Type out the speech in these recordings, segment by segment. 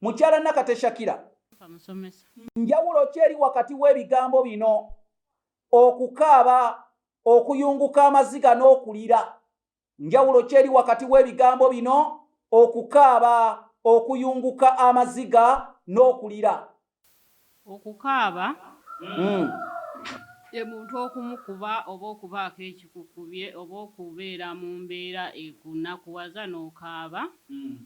Mukyala Nakate Shakira, njawulo ki eri wakati w'ebigambo bino okukaaba, okuyunguka amaziga n'okulira? Njawulo ki eri wakati w'ebigambo bino okukaaba, okuyunguka amaziga n'okulira? Okukaaba hmm. ye muntu okumukuba oba okubaako ekikukubye oba okubeera mu mbeera ekunakuwaza n'okaaba. Hmm.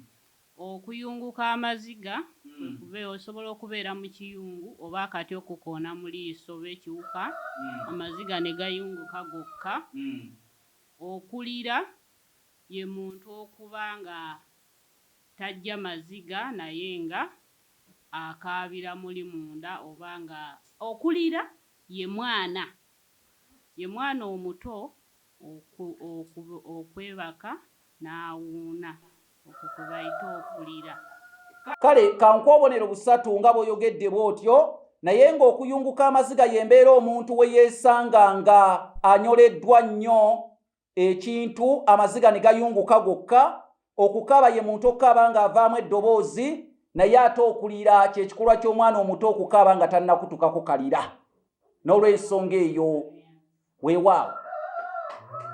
Okuyunguka amaziga, kwe kubeera, osobola okubeera mu kiyungu oba akati okukukoona mu liiso oba ekiwuka amaziga ne gayunguka gokka. Okulira, ye muntu okuba nga tajja maziga naye nga akaabira muli munda oba nga. Okulira, ye mwana, ye mwana omuto. okwebaka n'awuuna, okwo kwe bayita okulira. Kale ka nkuwe obubonero busatu nga bw'oyogedde bw'otyo, naye nga okuyunguka amaziga y'embeera omuntu we yeesanga nga anyoleddwa nnyo ekintu amaziga ne gayunguka gokka, Okukaaba ye muntu okukaaba ng'avaamu eddoboozi naye ate okulira kyekikolwa ky'omwana omuto okukaaba nga tannakutuka kukalira n'olwensonga eyo weewaawo